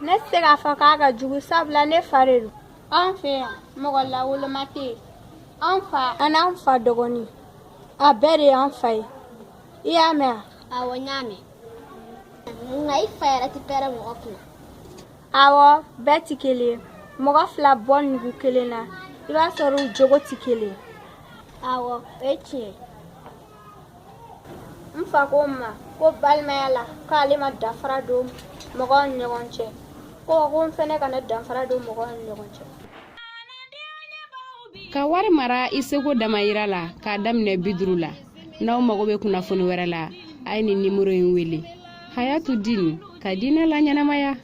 ne tɛ se k'a fɔ k'a ka jugu sabula ne fa de don anw fɛ yan mɔgɔ lawoloma tɛ yen anw fa an'an fa dɔgɔnin a bɛɛ de y'an fa ye i y'a mɛn wa awɔ n y'a mɛn nka i fa yɛrɛ tɛ pɛrɛ mɔgɔ kunna awɔ bɛɛ tɛ kelen ye mɔgɔ fila bɔ nugu kelen na i b'a sɔrɔ u jogo tɛ kelen ye awɔ o ye tiɲɛ ye n fa ko n ma ko balimaya la k'ale ma danfara don mɔgɔw ni ɲɔgɔn cɛ ko n fɛnɛ kana danfara don mɔgɔw ni ɲɔgɔn cɛ ka wari mara i seko damayira la k'a daminɛ bi duru la n'aw mago bɛ kunnafoni wɛrɛ la a ye nin nimoro in wele hayatu din ka diinɛ laɲɛnamaya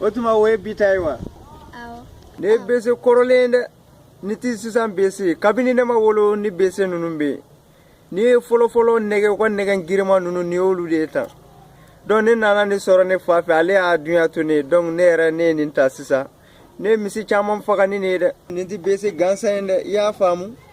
o tuma o ye bi ta ye wa nin ye bese kɔrɔlen ye dɛ nin tɛ sisan bese kabini ne ma wolo ni bese ninnu bɛ yen n'i ye fɔlɔfɔlɔ nɛgɛ ko nɛgɛ girinman ninnu nin y'olu de ye tan dɔnku ne nana nin sɔrɔ ne fa fɛ ale y'a dunya to ne ye dɔnku ne yɛrɛ ne ye nin ta sisan ne ye misi caman faga ni nin ye dɛ nin tɛ bese gansan ye dɛ i y'a faamu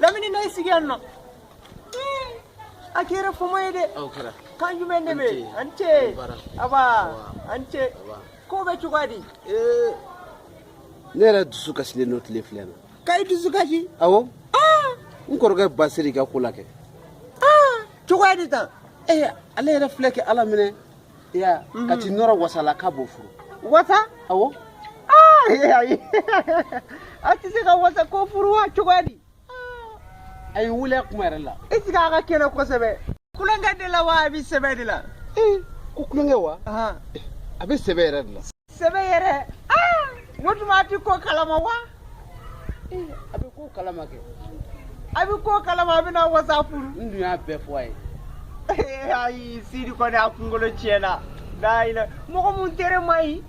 lamini na i sigi yan nɔ a kɛra fama ye dɛ kan jumɛn de bɛ an ce aba an ce ko bɛ cogoya di ne yɛrɛ dusu kasilen don tile fila in na ka i dusu kasi awɔ n kɔrɔkɛ basiri ka ko la kɛ cogoya di tan ale yɛrɛ filɛ kɛ ala minɛ ya mhm. ka t'i nɔrɔ wasa la k'a b'o furu wasa awɔ ah, a tɛ se ka wasa ko furu wa cogoya di a ye wuli a kuma yɛrɛ la i sigi a ka kɛnɛ kosɛbɛ kulonkɛ de la wa a bɛ sɛbɛ de la ko kulonkɛ wa a bɛ sɛbɛ yɛrɛ de la sɛbɛ yɛrɛ ah! o tuma a tɛ ko kalama wa eh, a bɛ ko kalama kɛ a bɛ ko kalama a bɛna wasa furu n dun y'a bɛɛ fɔ a ye eh, ayi sidi kɔni a kunkolo tiɲɛna dayila mɔgɔ mun tere man ɲi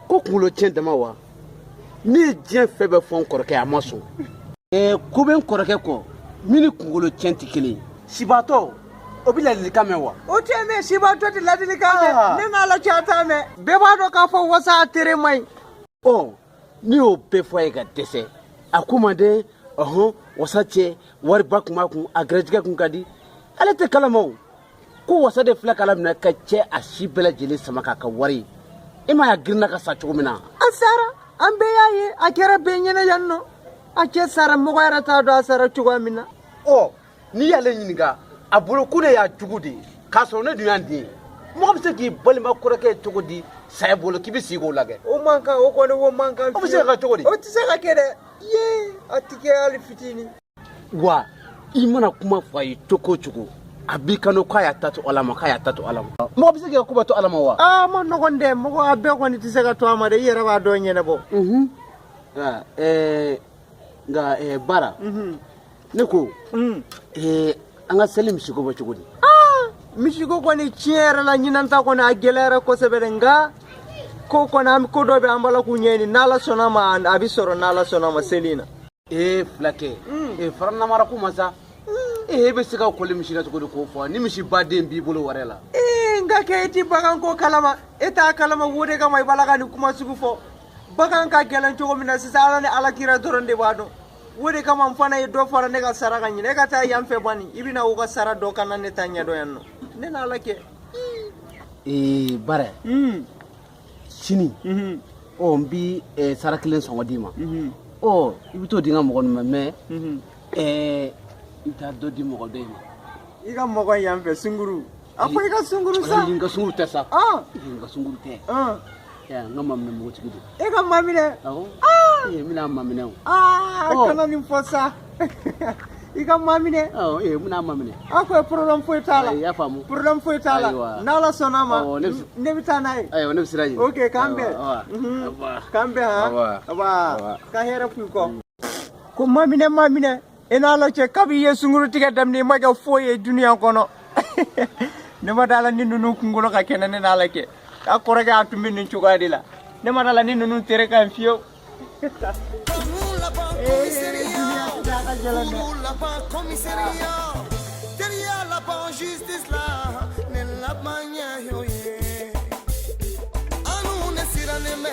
ko kunkolo tiɲɛ dama wa ne ye diɲɛ fɛn bɛɛ fɔ n kɔrɔkɛ a ma sɔn eh, ko bɛ n kɔrɔkɛ kɔ min ni kunkolo tiɲɛ tɛ kelen ye sibaatɔ o bɛ ladilikan mɛn wa o tɛ mɛn sibaatɔ tɛ ladilikan mɛn ah. ne n'ala cɛ a t'a mɛn bɛɛ b'a dɔn k'a fɔ wasa a tere man ɲi ɔ n'i y'o bɛɛ fɔ a ye ka dɛsɛ a ko man den ɔhɔn wasa cɛ wariba kun b'a kun a gɛrɛjɛgɛ kun ka di ale tɛ kalama o ko wasa de filɛ kala minɛ k'a cɛ a si bɛɛ lajɛlen sama k'a ka wari i m'a y'a girinna ka sa cogo min na a sara an bɛɛ y'a ye a kɛra bɛɛ ɲɛna yan nɔ a cɛ sara mɔgɔ yɛrɛ t'a dɔn a sara cogoya min na ɔ n'i y'ale ɲininka a bolo ko ne y'a jugu de ye k'a sɔrɔ ne dun y'a den ye mɔgɔ bɛ se k'i balima kɔrɔkɛ cogo di saya bolo k'i bɛ sigi k'o lajɛ o man kan o kɔni o man kan o bɛ se ka kɛ cogo di o tɛ se ka kɛ dɛ ye a tɛ kɛ hali fitinin wa i mana kuma fɔ a ye cogo o cogo a b'i kanu k'a y'a ta to ala ma k'a y'a ta to ala ma mɔgɔ bɛ se k'i ka ko bɛɛ to ala ma wa a man nɔgɔn dɛ mɔgɔ a bɛɛ kɔni tɛ se ka to a ma dɛ i yɛrɛ b'a dɔn ɲɛnabɔ nka baara ne ko mm. eh, an ka seli misiko bɛ cogo di ah, misiko kɔni tiɲɛ yɛrɛ la ɲinan ta kɔni a gɛlɛyara kosɛbɛ dɛ nka ko kɔni an ko dɔ bɛ an b'a la k'o ɲɛɲini n'ala sɔnna ma a bɛ sɔrɔ n'ala sɔnna ma seli in na ee eh, fulakɛ mm. ee eh, fara namara kuma sa ee e bɛ se ka kɔli misi la cogo di k'o fɔ ni misi baden b'i bolo wɛrɛ la ee n ka kɛ e tɛ bagan ko kalama e t'a kalama wo de kama i b'a la ka nin kuma sugu fɔ bagan ka gɛlɛn cogo min na sisan ala ni ala kira dɔrɔn de b'a dɔn o de kama n fana ye dɔ fara ne ka sara kan ɲinan e ka taa yan fɛ bani i bɛna u ka sara dɔn ka na ne ta ɲɛdɔn yan nɔ ne n'a la kɛ ee barɛ sini ɔ n bi eh, saga kelen sɔngɔ d'i ma ɔ i bɛ t'o di n ka mɔgɔ ninnu ma mɛ eh, i bɛ taa dɔ di mɔgɔ dɔ in ma i ka mɔgɔ yan fɛ sunguru a ko i ka sunguru sa n ka sunguru tɛ sa n ka sunguru tɛ n ka maminɛ npogotigi don e ka maminɛ awɔ ee n bɛn'a maminɛ o aa kana nin fɔ sa i ka maminɛ ee n bɛn'a maminɛ a ko problème foyi t'a la i y'a faamu problème foyi t'a la n'ala sɔnna ma ne bɛ taa n'a ye ayiwa ne bɛ sira ɲini ok k'an bɛn k'an bɛn han ka hɛrɛ fɔ i kɔ ko maminɛ maminɛ i n'a la cɛ kabi i ye sungurutigɛ daminɛ i ma kɛ foyi ye duniya kɔnɔ ne ma d'a la ni ninnu kunkolo ka kɛnɛ ne n'a la cɛ a kɔrɔkɛ a tun bɛ nin cogoya de la ne ma d'a la ni ninnu tere ka ɲi fiyewu justice la ne laban ɲɛ y'o ye an n'u ne sirannen bɛ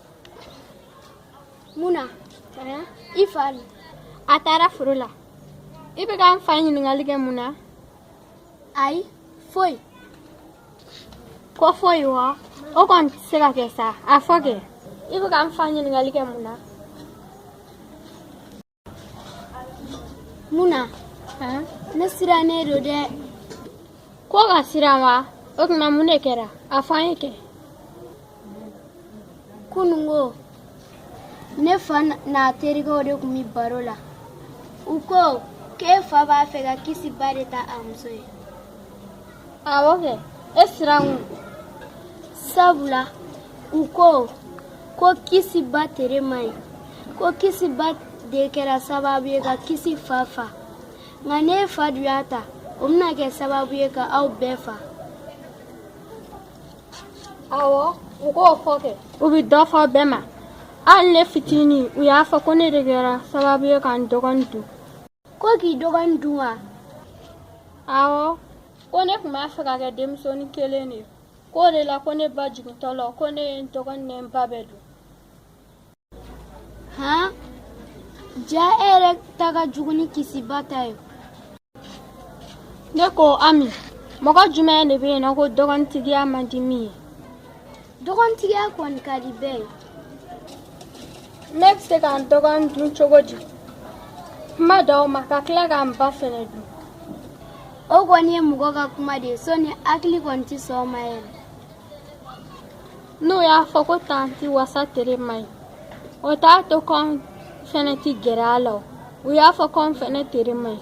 mun na i fa le a taara foro la i bɛ ka n fa ɲininkali kɛ mun na ayi foyi ko foyi wa o kɔni tɛ se ka kɛ sa a fɔ kɛ i bɛ ka n fa ɲininkali kɛ mun na munna ne sirannen don dɛ ko ka siran wa o tuma mun de kɛra a fɔ an ye kɛ kunungo ne fa n'a terikɛw de tun bɛ baro la u ko k'e fa b'a fɛ ka kisi ba de ta a muso ye awɔ kɛ e siran sabula u ko ko kisi ba tere man ɲi ko kisi ba de kɛra sababu ye ka kisi fa fa nka n'e fa dun y'a ta o bɛna kɛ sababu ye ka aw bɛɛ fa awɔ u k'o fɔ kɛ u bɛ dɔ fɔ bɛɛ ma hali ne fitinin u y'a fɔ ko ne de kɛra sababu ye ka n dɔgɔnin dun ko k'i dɔgɔnin dun wa awɔ ko ne tun b'a fɛ ka kɛ denmusonin kelen ye k'o de la ko ne ba jigintɔ la ko ne ye n dɔgɔnin ni n ba bɛɛ dun han ja e yɛrɛ ta ka jugu ni kisi ba ta ye ne ko ami mɔgɔ jumɛn de bɛ yen nɔ ko dɔgɔnintigiya man di min ye dɔgɔnintigiya kɔni ka di bɛɛ ye ne bɛ se ka n dɔgɔnin dun cogo di kuma t'o ma ka tila ka n ba fɛnɛ dun o kɔni ye mɔgɔ ka kuma de ye sɔni hakili kɔni tɛ sɔn a ma yɛrɛ n'u y'a fɔ ko tanti wasa tere man ɲi o t'a to k'anw fɛnɛ tɛ gɛrɛ a la o u y'a fɔ k'anw fɛnɛ tere man ɲi